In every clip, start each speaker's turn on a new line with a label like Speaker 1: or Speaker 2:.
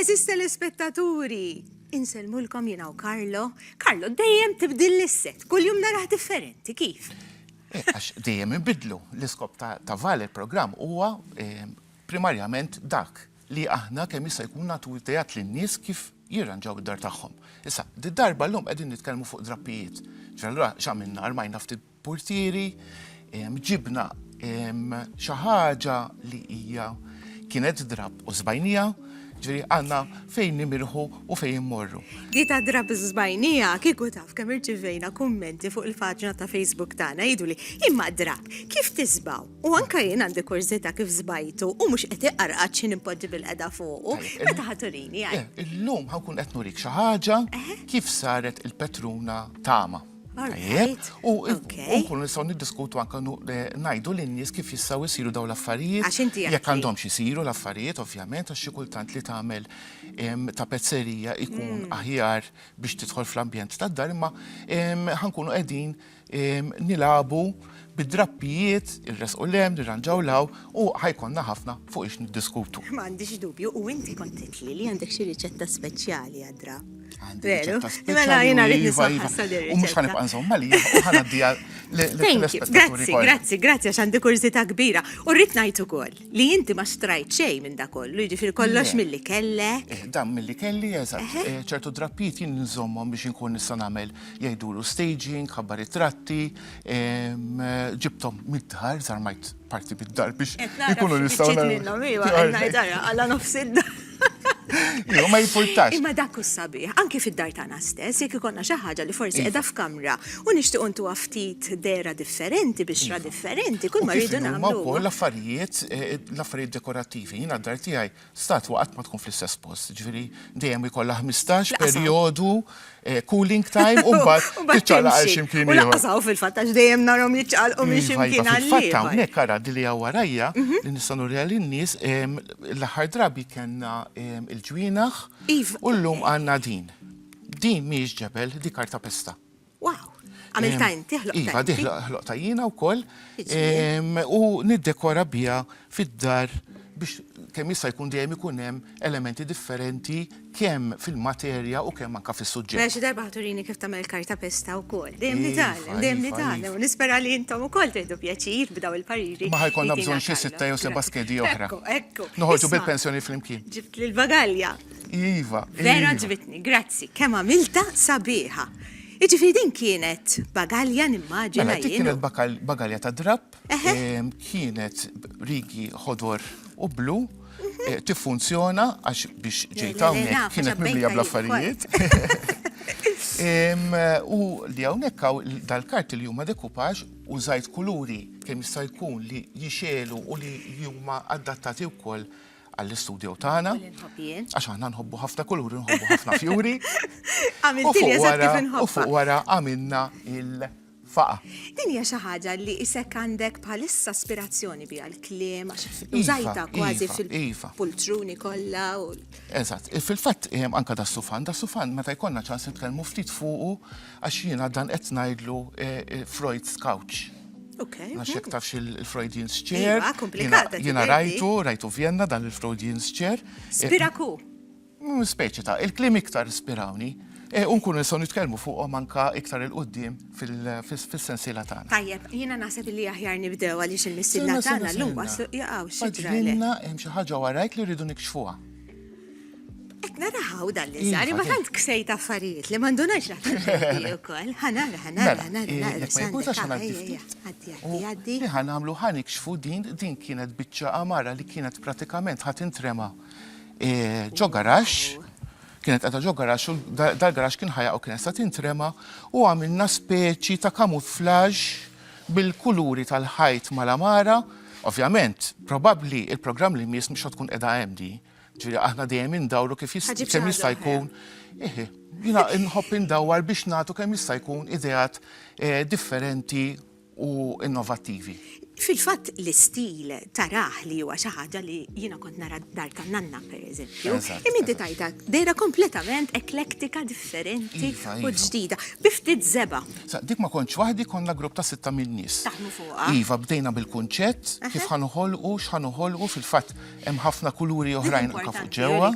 Speaker 1: Eżis telespettaturi, insellmulkom jina u Karlo. Karlo, dejjem tibdil l-isset, kull jum naraħ differenti, kif? Eh, għax
Speaker 2: dejjem inbidlu l-iskop ta' val il-programm huwa eh, primarjament dak li aħna kemm jista' jkun nagħtu idejat lin-nies kif jirranġaw id-dar tagħhom. Issa, darba l-lum qegħdin nitkellmu fuq drappijiet. Ġallura x'għamilna armajna ftit Portieri, ġibna xi ħaġa li hija kienet drab u żbajnija, ġifieri għandna fejn nimirħu u fejn immorru. Di ta' drab u
Speaker 1: żbajnija, kieku taf kemm irċivejna kummenti fuq il-paġna ta' Facebook tagħna jgħiduli, imma drab, kif tiżbgħu? U anke jien għandi kurżità kif żbajtu u mhux qed iqarqad xi nimpoġġi bil-qeda fuqu. Meta ħa turini? Illum ħa nkun
Speaker 2: qed nurik xi ħaġa kif saret il-Petruna tama. U nkunu nistgħu niddiskutu anke ngħidu lin-nies kif jistgħu jsiru dawn l-affarijiet. Jekk għandhomx isiru l-affarijiet, ovvjament, għax xi kultant li tagħmel tapezzerija jkun aħjar biex tidħol fl-ambjent tad-dar, imma ħankunu qegħdin nilagħbu Bid-drappijiet, irressqu 'l hemm, irranġaw 'l hawn u ħa jkollna ħafna fuq ix niddiskutu. Ma għandix dubju, u
Speaker 1: inti kont għidtli li għandek xi riċetta speċjali għad-drapp. Għandi riċetta speċjali.
Speaker 2: Mela jiena rrid nisma' issa din ir-riċetta. U mhux ħa nibqa' nżomm għalija u ħa ngħaddiha lill-telespettaturi kollha. Grazzi, grazzi,
Speaker 1: grazzi għax għandi kurżità kbira. U rrid ngħid ukoll li inti ma xtrajt xejn minn dak kollu, jiġifieri kollox milli kellek. Eh, dan milli kelli,
Speaker 2: eżatt. Eh, ċertu drappijiet jien nżommhom biex inkun nista' nagħmel jgħidulu staging, ħabbar it-tratti, ġibtom mid-dar, zarmajt parti mid-dar biex ikunu nistaw. Ġit minnom, iwa, għajdara,
Speaker 1: għalla nofs id-dar. Iwa,
Speaker 2: ma jimportax. Imma dak u sabiħ,
Speaker 1: anki fid-dar tana stess, jek ikonna xaħġa li forsi edha iva. f'kamra, u nishtiq untu għaftit dera differenti, biex ra iva. differenti, kull ma rridu namlu. Ma u l-affarijiet,
Speaker 2: eh, l-affarijiet dekorativi, jina d-dar tijaj, Statwa qatt ma tkun fl-istess post, ġifieri dejjem jkollha 15 perjodu eh, cooling time u mbagħad tiċċaqla għal ximkien ieħor. Naqsaw fil-fatt għax dejjem
Speaker 1: narhom jiċċaqalqu minn iva, iva, ximkien għal Fatt hawnhekk ara
Speaker 2: li hawn warajja mhm. li nistgħu nurija lin-nies l-aħħar drabi kellna il-ġwienaħ iva. u llum għandna din. Din mhijiex ġebel, di karta pesta. Wow,
Speaker 1: għamil ta' inti ħloq. Iva, di ħloq ta'
Speaker 2: jina u koll. U niddekora bija fid-dar biex kemm jista' jkun dejjem ikun hemm elementi differenti kemm fil-materja u kemm anka fis-suġġett. Mela xi darba ħaturini kif
Speaker 1: tagħmel karta pesta wkoll. Dejjem nitgħallem, dejjem nitgħallem. Nispera li intom ukoll tieħdu pjaċir b'daw il-pariri. Ma ħajkollna bżonn xi
Speaker 2: sitta jew seba' skedi oħra. Ekku, ekku. Noħorġu
Speaker 1: bil-pensjoni
Speaker 2: flimkien. Ġibt lill-bagalja.
Speaker 1: Iva,
Speaker 2: iva. Vera ġbitni,
Speaker 1: grazzi, kemm għamilta sabiħa. Iġifiri din kienet bagalja nimmaġina. Mela, din kienet
Speaker 2: bagalja ta' drab, kienet rigi ħodor u blu, mhm. eh, tiffunzjona għax biex ġejta hawnhekk kienet mimlija bl-affarijiet. U li hawnhekk hawn dal-karti li huma dekupaġ u żajt kuluri kemm jista' jkun li jixelu u li huma adattati wkoll għall-istudju tagħna. Għax aħna nħobbu ħafna kulur, nħobbu ħafna fjuri. U fuq wara għamilna il- faqa. Din hija xi
Speaker 1: ħaġa li isek għandek bħalissa aspirazzjoni biha l-kliem għax iva, użajta kważi iva, fil-pultruni iva. kollha. Eżatt,
Speaker 2: fil-fatt anka da sufan, da sufan meta jkollna ċans nitkellmu ftit fuqu Għax jiena dan qed ngħidlu Freud's couch. Okay. Għax jek tafx il-Freudian's iva, chair. Iva, komplikata. Jiena rajtu, rajtu Vienna dan il-Freudian's chair. Spiraku.
Speaker 1: Mm, speċi
Speaker 2: ta' il-klim iktar spirawni. E, unkun nisaw nitkellmu fuqhom anka iktar il-qoddim fil-sensiela tagħna. Tajjeb, jiena naħseb
Speaker 1: li aħjar nibdew għaliex il-missiela tagħna llum waslu jaqgħu xi ġrajna. hemm xi ħaġa
Speaker 2: warajk li rridu nikxfuha.
Speaker 1: Qed nara ħaw dan li sar, imma tant ksejt affarijiet li ma ndunajx li ħadd ukoll. Ħanara, ħanara, ħanara. Mela, eh, jekk
Speaker 2: ma jkunx għax ngħaddi ftit. Għaddi, għaddi, għaddi. Li ħanamlu ħanikxfu din, din kienet biċċa amara li kienet pratikament ħadd intrema eh, ġo garax kienet għadha ġo garax u dal-garax kien ħajja u kienet sa tintrema u għamilna speċi ta' kamuflaġ bil-kuluri tal-ħajt mal-amara. Ovvjament, probabli il-programm li mis mux tkun edha għemdi. Ġifieri aħna dejjem indawru kif kemm jista' jkun. Eħe, jiena nħobb indawwar biex nagħtu kemm jista' jkun ideat eh, differenti u innovattivi. Fil-fatt
Speaker 1: l-istil taraħ li huwa xi ħaġa li jiena kont nara dar ta' nanna pereżempju. Imma inti tajta dejra kompletament eklektika differenti iva, u iva. ġdida. Biftit żeba. Dik ma kontx
Speaker 2: waħdi konna grupp ta' sitta minn nies. Taħmu fuqha. Iva
Speaker 1: bdejna bil-kunċett
Speaker 2: kif ħanuħolqu, x'ħanuħolqu fil-fatt Hemm ħafna kuluri oħrajn anke fuq ġewwa.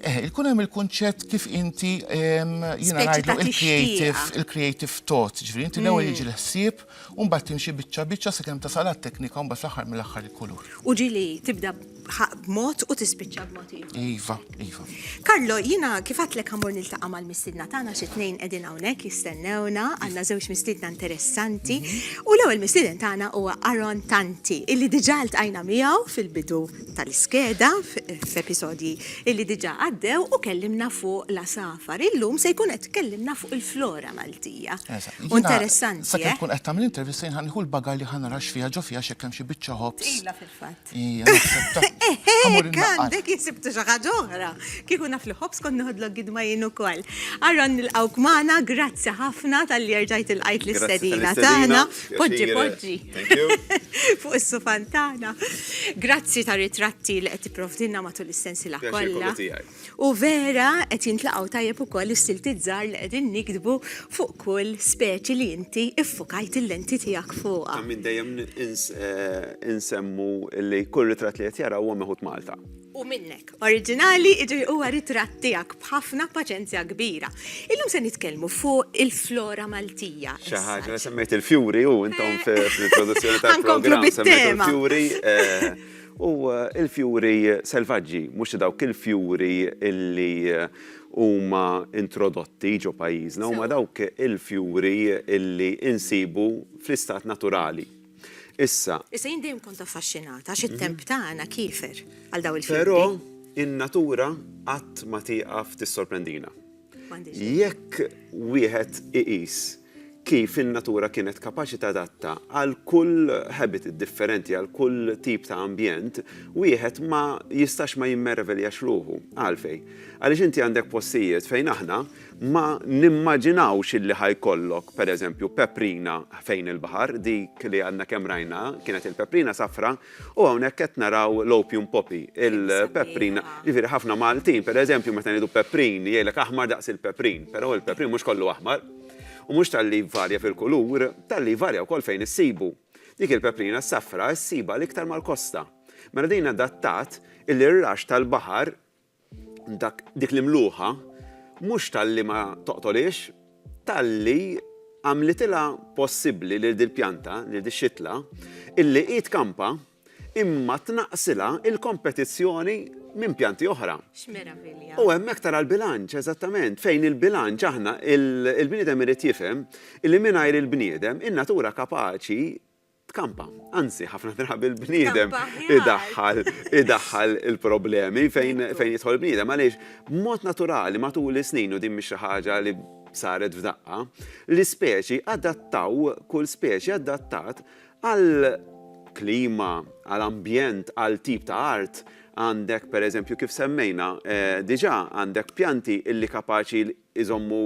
Speaker 2: Eh, ikun hemm il-kunċett kif inti jiena ngħidlu il-creative, il-creative thought, ġifieri inti l-ewwel mm. jiġi l-ħsieb u mbagħad timxi biċċa biċċa sakemm tasal għat-teknika u mbagħad fl-aħħar mill-aħħar il-kulur. U ġili tibda
Speaker 1: b'mod u tispiċċa b'mod ieħor. Iva. Iva.
Speaker 2: Karlo, jina
Speaker 1: kifat lek għamur niltaqa mal mistidna tagħna xi tnejn qegħdin hawnhekk jistennewna, għandna żewġ mistidna interessanti. Mhm. U l-ewwel mistiden tagħna huwa Aron Tanti, illi diġà ltqajna miegħu fil-bidu tal-iskeda f'episodji illi diġà għaddew u kellimna fuq la safar. Illum se jkun qed kellimna fuq il-flora Maltija. Interessanti. Sakemm eh? tkun qed tagħmel
Speaker 2: intervista jinħanħu l-baga li ħanarax fiha ġo fiha xekkem xi biċċa ħobs. Ila fil-fatt.
Speaker 1: Hekk għandek jisibtu xi ħaġa oħra. Kieku naf li ħobs kont nieħodlok gidma jien ukoll. Aron nilqgħuk magħna, grazzi ħafna tal-li erġajt ilqajt l-istedina tagħna. Poġġi, poġġi. Fuq is-sufan tagħna. Grazzi tar-ritratti li qed tipprovdilna matul is-sensiela kollha. U vera qed jintlaqgħu tajjeb ukoll is-siltiet żgħar li qegħdin niktbu fuq kull speċi li inti ffukajt il-lenti tiegħek fuqha. Ta' min dejjem
Speaker 3: insemmu li kull ritratt li qed jara huwa meħud Malta. U minnek.
Speaker 1: Oriġinali, jiġifieri huwa ritratt tiegħek b'ħafna paċenzja kbira. Illum se nitkellmu fuq il-flora Maltija. Xi ħaġa, semmejt
Speaker 3: il-fjuri u intom fl-introduzzjoni tal-programm. Nkomplu bit-tema. Semmejt il-fjuri. U l-fjuri selvaġġi, mhux dawk il-fjuri li huma introdotti ġo pajjiżna, huma dawk il-fjuri li nsibu fl-istat naturali. Issa. Issa jien dejjem kont
Speaker 1: affaxxinat għax it-temp tagħna kiefer għal dawn il-fjuri. Però in-natura
Speaker 3: qatt ma tieqaf tissorprendina. Jekk wieħed iqis kif in-natura kienet kapaċi tadatta għal kull habitat differenti, għal kull tip ta' ambjent, wieħed ma jistax ma jimmereveljax ruħu. Għalfejn? Għaliex inti għandek postijiet fejn aħna ma nimmaġinawx illi ħa jkollok, pereżempju, peprina fejn il-baħar, dik li għadna kemm rajna kienet il-peprina safra, u hawnhekk qed naraw l-opium poppy, il-peprina. Jiġifieri ħafna Maltin, pereżempju, meta ngħidu peprin, jgħidlek aħmar daqs il-peprin, però il-peprin mhux kollu aħmar. U mhux talli jvarja fil-kulur, talli jvarja wkoll fejn issibu. Dik il-peprina s-safra ssibha l-iktar mal-kosta. Mela din adattat illi r-raxx tal-baħar, dak, dik l-imluħa, mhux talli ma toqtolhiex, talli għamlitilha possibbli lil dil-pjanta, lil dix-xitla, illi hi tkampa, imma tnaqqsilha l-kompetizzjoni minn pjanti oħra. X'meravilja. U
Speaker 1: hemmhekk tara
Speaker 3: l-bilanċ, eżattament, fejn il-bilanċ aħna il-bniedem irid jifhem li mingħajr il-bniedem in-natura kapaċi tkampa. Anzi, ħafna drabi l-bniedem idaħħal idaħħal il-problemi fejn fejn jidħol bniedem għaliex b'mod naturali matul is-snin u din mhix xi ħaġa li saret f'daqqa, l-ispeċi adattaw, kull speċi adattat Għal klima, għal ambjent, għal tip ta' art, għandek pereżempju kif semmejna diġà għandek pjanti illi kapaċi jżommu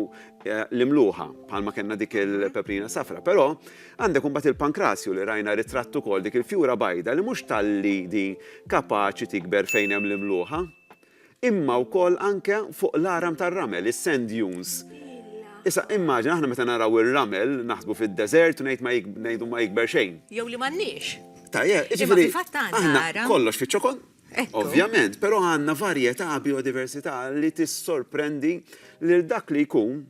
Speaker 3: l-imluħa, bħalma kellna dik il-peprina safra. Però għandek imbagħad il-pankrasju li rajna ritratt ukoll, dik il-fjura bajda li mhux talli din kapaċi tikber fejn hemm l-imluħa, imma wkoll anke fuq l-għaram tar-ramel, is-sand dunes. Issa, immaġina aħna meta naraw ir-ramel, naħsbu fid-deżert u ngħid ma ngħidu ma jikber xejn. Jew li m'għandniex.
Speaker 1: Tajjeb, jiġifieri aħna kollox
Speaker 3: fiċ-ċokon, ovvjament, però għandna varjetà biodiversità li tissorprendi lil dak li jkun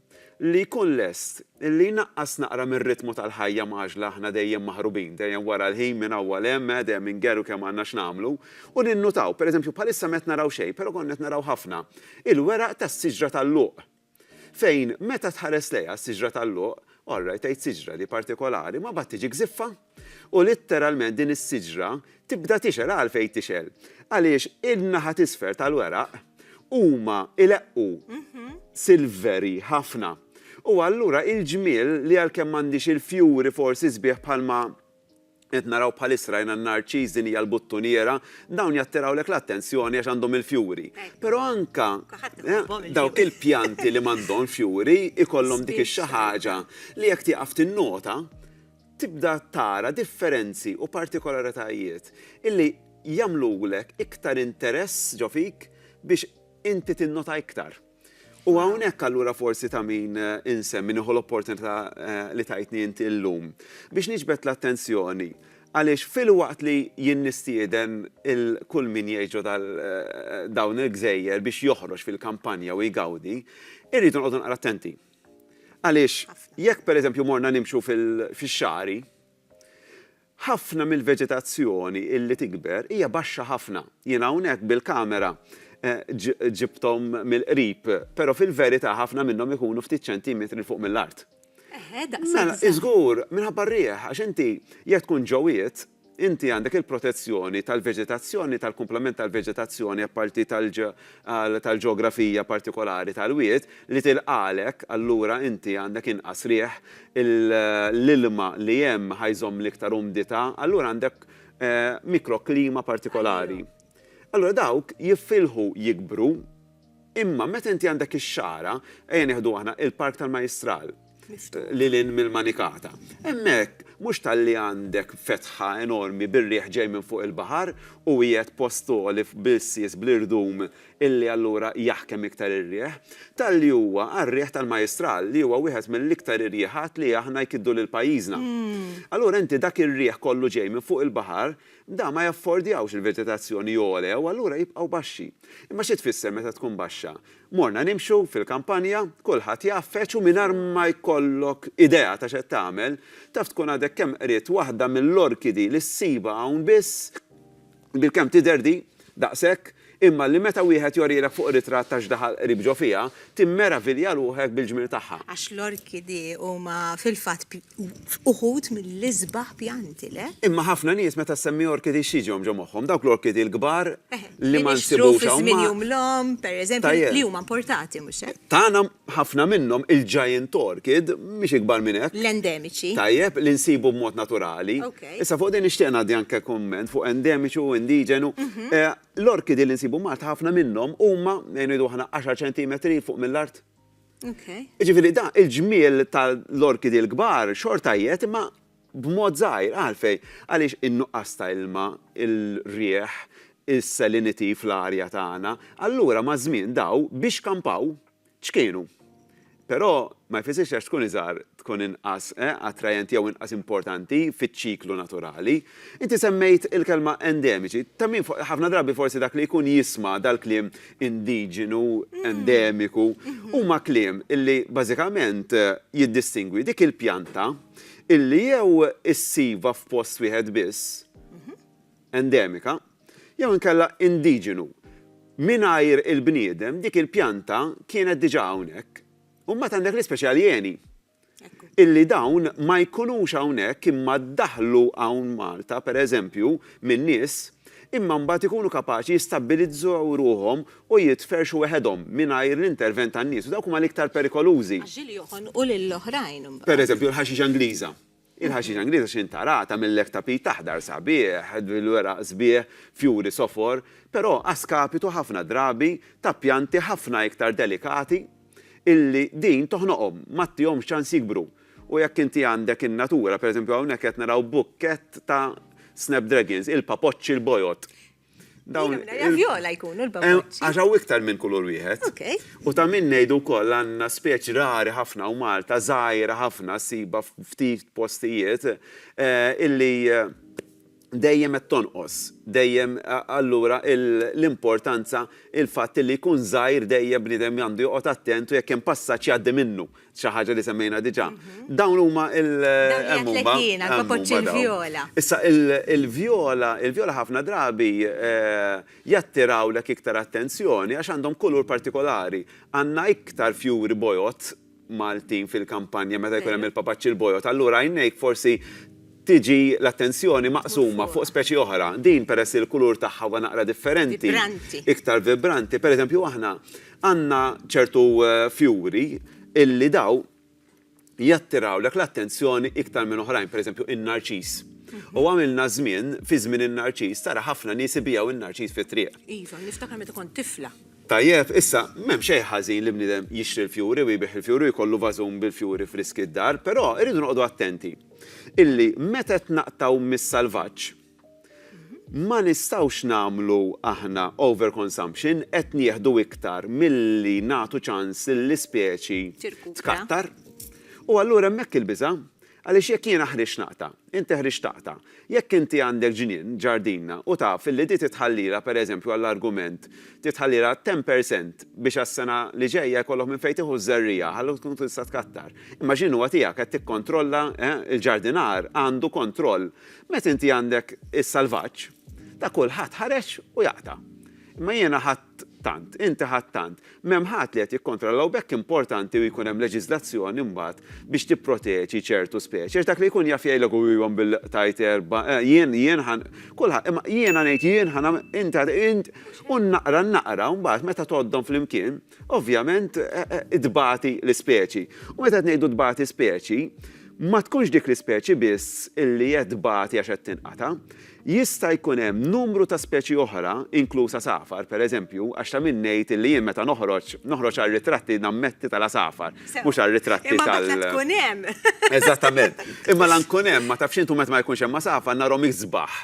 Speaker 3: li jkun lest li jnaqqas naqra mir-ritmu tal-ħajja mgħaġġla aħna dejjem maħrubin, dejjem wara l-ħin minn hawn għal hemm, eh, dejjem ingerru kemm għandna x'nagħmlu, u ninnutaw, pereżempju bħalissa m'qed naraw xejn, però konna qed naraw ħafna, il-weraq tas-siġra tal-luq. Fejn meta tħares lejha, s-siġra tal-luq, orrajt tgħid siġra, li partikolari, ma mbagħad tiġi gżiffa. U litteralment din is-siġra tibda tixgħel, għalfejn tixgħel? Għaliex in-naħa t'isfel tal-weraq huma ileqqu silveri ħafna. U allura il-ġmiel li għalkemm m'għandhiex il-fjuri forsi sbieħ bħalma qed naraw bħalissa rajna n-narċiż din hija l-buttuniera, dawn jattirawlek l-attenzjoni għax għandhom il-fjuri. Però anke dawk il-pjanti li m'għandhomx fjuri jkollhom dik ix-xi ħaġa li jekk tieqaf tinnota tibda tara differenzi u partikolaritajiet illi jagħmlulek iktar interess ġo fik biex inti tinnota iktar. U hawnhekk allura forsi ta' min insemmi nieħu l-opportunità li tajtni inti llum biex niġbed l-attenzjoni għaliex filwaqt li jien nistieden il kull min jgħix ġo dawn il-gżejjer biex joħroġ fil-kampanja u jgawdi, irridu noqogħdu naqra attenti. Għaliex, jekk pereżempju morna nimxu fix-xagħri, ħafna mill-veġetazzjoni li tikber hija baxxa ħafna. Jiena hawnhekk bil-kamera ġibthom mill-qrib, però fil-verità ħafna minnhom ikunu ftit ċentimetri 'l fuq mill-art. Eħe, daqshekk żgħar. Mela, żgur, minħabba r-riħ, għax inti jekk tkun ġo wied, Inti għandek il-protezzjoni tal-veġetazzjoni, tal-kumplament tal-veġetazzjoni apparti tal-ġeografija partikolari tal-wied li tilqagħlek, allura inti għandek inqas riħ, l-ilma li hemm ħa jżomm l-iktar umdità, allura għandek mikroklima partikolari. Allura dawk jiffilħu jikbru, imma meta inti għandek ix-xagħra, ejja nieħdu aħna il-Park tal-Majjistral, lil hinn mill-manikata. Hemmhekk, mhux talli għandek fetħa enormi bir-riħ ġej minn fuq il-baħar u qiegħed post għoli bl-irsies bl-irdum illi allura jaħkem iktar ir-riħ, talli huwa għar-riħ tal-Majistral li huwa wieħed mill-iktar irjiħat li aħna jkiddu lil pajjiżna. Allura inti dak ir-riħ kollu ġej minn fuq il-baħar, dawn ma jaffordjawx il-veġetazzjoni għole u allura jibqgħu baxxi. Imma xi tfisser meta tkun baxxa? Morna nimxu fil-kampanja, kulħadd jgħaffeġ u mingħajr ma jkollok idea ta' x'qed tagħmel, taf tkun għadek kemm qriet waħda mill-orkidi li ssibha hawn biss, bilkemm tidher di, daqshekk, imma li meta wieħed jorilek fuq ritratt ta' x'daħal qrib ġo fiha, timmeravilja ruħek bil-ġmiel tagħha. Għax l-orkidi
Speaker 1: huma fil-fatt F'uħud mill-isbaħ pjanti, le? Imma ħafna nies meta
Speaker 3: ssemmi orkidi x'jiġihom ġo moħħhom? Dawk l-orkidi l-kbar li ma nsibux hawn. Li nixtru fi żmien Jum l-Omm,
Speaker 1: pereżempju, li huma importati, mhux hekk? Tagħna ħafna
Speaker 3: minnhom, il-giant orchid, mhix ikbar minn hekk. L-endemiċi. Tajjeb,
Speaker 1: li nsibu
Speaker 3: b'mod naturali. Issa fuq din nixtieq ngħaddi anke kumment fuq endemiċi u indiġenu. L-orkidi li nsibu Malta ħafna minnhom huma, ngħidu aħna, għaxar ċentimetri 'l fuq mill-art. Jiġifieri da il-ġmiel tal-orkidi l-kbar xorta jgħed imma b'mod żgħir għalfejn? Għaliex in-nuqqas ta' ilma, il-riħ, is-salinity fl-arja tagħna, allura maż-żmien daw biex kampaw ċkienu. Però ma jfissirx li għax tkun iżgħar tkun inqas attrajenti jew inqas importanti fiċ-ċiklu naturali. Inti semmejt il-kelma endemiċi. Ta' min ħafna drabi forsi dak li jkun jisma' dal-kliem indiġenu, endemiku, huma kliem illi bażikament jiddistingwi dik il-pjanta illi jew issibha f'post wieħed biss, endemika, jew inkella indiġenu. Mingħajr il-bniedem dik il-pjanta kienet diġà hawnhekk. U mbagħad għandek l-ispeċi aljeni, illi dawn ma jkunux hawnhekk imma ddaħħlu hawn Malta, per eżempju, minn nies, imma mbagħad ikunu kapaċi jistabbilizzaw ruħhom u jitferrxu weħedhom mingħajr l-intervent tan-nies u dawk huma l-iktar perikolużi.
Speaker 1: Per eżempju, l-ħaxixa Ingliża.
Speaker 3: Il-ħaxixa Ingliża x'inhi tara, tagħmillek tapit aħdar sabiħ, bil-weraq sbieħ, fjuri sofor, però a skapitu ħafna drabi ta' pjanti ħafna iktar delikati illi din toħnoqhom, ma ttihomx ċans jikbru. U jekk inti għandek in-natura, pereżempju hawnhekk qed naraw bukkett ta' snapdragons, il-papoċċi l-bojod. Dawn
Speaker 1: viola jkunu l-babuċċi. Għax hawn iktar minn kulur
Speaker 3: wieħed. U ta' min ngħidu wkoll għandna speċi rari ħafna u Malta żgħira ħafna ssibha ftit postijiet illi dejjem qed tonqos. Dejjem allura l-importanza il-fatt li jkun żgħir dejjem bniedem għandu joqgħod attent u jekk hemm passaġġ jgħaddi minnu. xi ħaġa li semmejna diġà. Dawn huma il hemm huma. Jiena l-kokoċċ
Speaker 1: il-vjola. Issa il-vjola,
Speaker 3: il-vjola ħafna drabi eh, jattirawlek iktar attenzjoni għax għandhom kulur partikolari. Għandna iktar fjuri bojot Maltin fil-kampanja meta jkun hemm il-papaċċi l-bojot. Allura għajnejk forsi tiġi l-attenzjoni maqsuma fuq speċi oħra. Din peress il-kulur tagħha huwa naqra differenti. Vibranti. Iktar vibranti. Per eżempju aħna Għandna ċertu fjuri illi daw jattirawlek l-attenzjoni iktar minn oħrajn, pereżempju in-narċiż. U għamilna żmien, fi żmien in-narċiż, tara ħafna nies
Speaker 1: ibigħu
Speaker 3: in-narċiż
Speaker 1: fit-triq.
Speaker 3: Iva,
Speaker 1: niftakar
Speaker 3: meta kont
Speaker 1: tifla.
Speaker 3: Tajjeb, issa, m'hemm xejn ħażin li bniedem jixtri l-fjuri u jbigħ il-fjuri u jkollu vażun bil-fjuri friski d-dar, però irridu noqogħdu attenti illi meta qed naqtgħu mis-salvaġġ, Ma nistgħux nagħmlu aħna overconsumption, qed nieħdu iktar milli nagħtu ċans lill-ispeċi tkattar. U allura hemmhekk il-biża'. Għaliex jekk jiena ħriġt naqta', inti ħriġt taqta', jekk inti għandek ġnien, ġardina, u taf li di titħallilha, pereżempju għall-argument, titħallilha 10 per cent biex għas-sena li ġejja jkollok minn fejn tieħu ż-żerriegħa ħalli tkun tista' tkattar. Imma ġnien huwa tiegħek, qed tikkontrolla, eh, il-ġardinar għandu kontroll. Meta inti għandek is-salvaġġ, ta' kulħadd ħareġ u jaqta'. Imma jiena ħadt tant, inti ħadt tant, m'hemm ħadd li qed jikkontrolla u b'hekk importanti u jkun hemm leġiżlazzjoni mbagħad biex tipproteġi ċertu speċi għax dak li jkun jaf jgħidlek u iva mbil-qtajt erba' jien jien ħa kulħadd imma jiena ngħid jien ħa nagħmel inti int u naqra naqra u mbagħad meta tgħoddhom flimkien ovvjament, tbati l-ispeċi. U meta qed ngħidu tbati speċi, ma tkunx dik l-ispeċi biss illi qed tbati għax qed tinqata', jista' jkun hemm numru ta' speċi oħra, inkluż għasafar, pereżempju, għax ta' min ngħid illi jien meta noħroġ, noħroġ għar-ritratti nammetti tal-għasafar, mhux għar-ritratti tal-. Imma meta tkun hemm!
Speaker 1: Eżattament.
Speaker 3: Imma la nkun hemm, ma tafx int u meta ma jkunx hemm għasafar narhom isbaħ.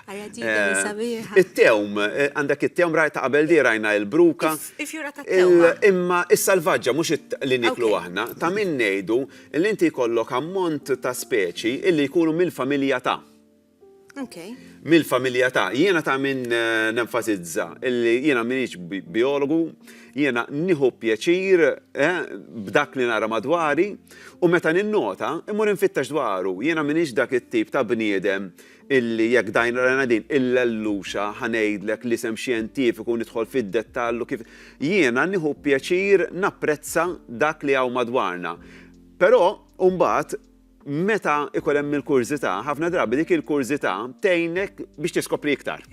Speaker 3: It-tewm, għandek it-tewm, ta' qabel di rajna l-bruka. Il-fjura tat-tewba. Imma is-salvaġġa, mhux li nieklu aħna, ta' min ngħidu li inti jkollok ammont ta' speċi li jkunu mill-familja ta'. Okej. Mill-familja ta'. Jiena ta' min nenfasizza li jiena m'iniex bijologu, jiena nieħu pjaċir b'dak li nara madwari u meta ninnota, immur infittex dwaru. Jiena m'iniex dak it-tip ta' bniedem illi jekk dajn rajna din il-lelluxa ħa ngħidlek l-isem xjentifiku u nidħol fid-dettall u kif jiena nieħu pjaċir napprezza dak li hawn madwarna. Però mbagħad meta ikun hemm il-kurżità, ħafna drabi dik il-kurżità tgħinek biex tiskopri iktar.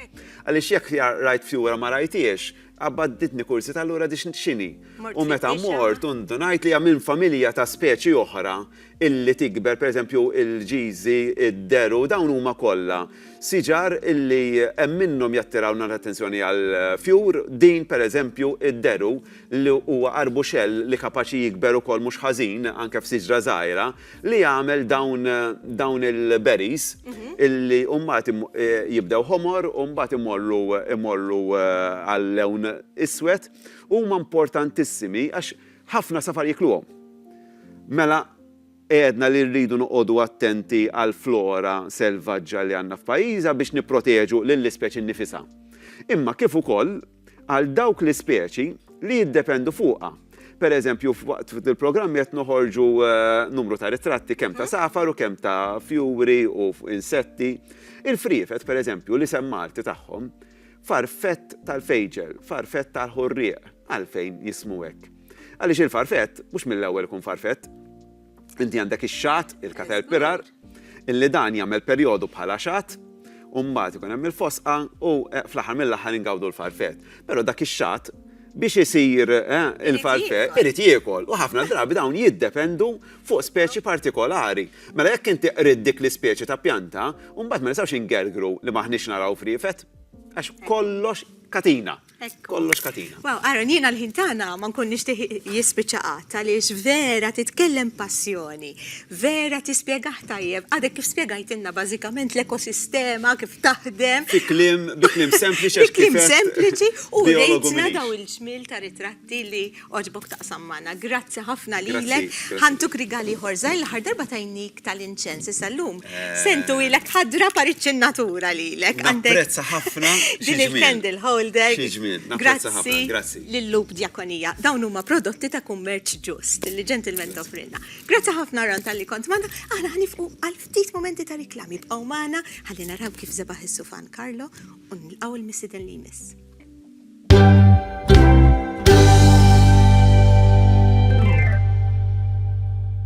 Speaker 3: Għaliex jekk rajt fjura ma rajthiex, qabaditni kurżità allura x'inhi. U meta mort u ndunajt li hija minn familja ta' speċi oħra illi tikber, pereżempju il-ġiżi, id-deru, dawn huma kollha siġar illi hemm minnhom jattirawna l-attenzjoni għall-fjur, din pereżempju id-deru li huwa arbuxell li kapaċi jikber ukoll mhux ħażin anke f'siġra żgħira li jagħmel dawn dawn il-berries illi mbagħad jibdew ħomor u mbagħad imorru imorru għal lewn iswed huma importantissimi għax Ħafna safar jikluhom. Mela għedna li rridu noqogħdu attenti għall-flora selvaġġa li għandna f'pajjiża biex nipproteġu lill-ispeċi nnifisha. Imma kif ukoll għal dawk l-ispeċi li jiddependu fuqha. Per eżempju, f'waqt il-programm qed noħorġu numru ta' ritratti kemm ta' safar u kemm ta' fjuri u insetti. Il-friefet, per eżempju, l-isem Malti tagħhom, Farfett tal-fejġel, farfett tal-ħorrieq, għalfejn jismu hekk? Għaliex il-farfett mhux mill-ewwel ikun farfett. Inti għandek ix-xagħat, il-caterpillar, illi dan jagħmel perjodu bħala xagħat, u mbagħad ikun hemm il-fosqa u fl-aħħar mill-aħħar ingawdu l-farfett. Però dak ix-xagħat biex isir il-falfett, irid jiekol, u ħafna drabi dawn jiddependu fuq speċi partikolari. Mela jekk inti qridt dik l-ispeċi ta' pjanta, mbagħad ma nistgħux ingergru li m'aħniex naraw friefet, għax kollox katina. Kollox katina. Wow, Aaron, jiena l-ħin
Speaker 1: tagħna ma nkun nixtieq jispiċċa qatt għaliex vera titkellem passjoni. Vera tispjegah tajjeb, għadek kif spjegajtilna bażikament l-ekosistema kif taħdem. Fi kliem, bi
Speaker 3: kliem sempliċi għax kif. Bi kliem sempliċi
Speaker 1: u rejtna daw il-ġmiel ta' ritratti li għoġbok taqsam magħna. Grazzi ħafna lilek. Ħa ntuk rigal ieħor żgħir, l-aħħar darba tajnik tal-inċens issa llum. Se ntuwilek ħa drab għar iċ-ċinnatura lilek. Napprezza ħafna.
Speaker 3: Din il-candle
Speaker 1: holder. Xi ġmiel. Napprezza ħafna. Grazzi.
Speaker 3: Lil-Loop
Speaker 1: Diakonia. Dawn huma prodotti ta' kummerċ ġust li ġentilment offri. Grazzi ħafna Ron tal-li kont magħna, aħna ħanifqu għal ftit momenti ta' riklami bqgħu magħna ħalli naraw kif zebaħ is-sufan Karlo u nilqgħu l-missiden li jmiss.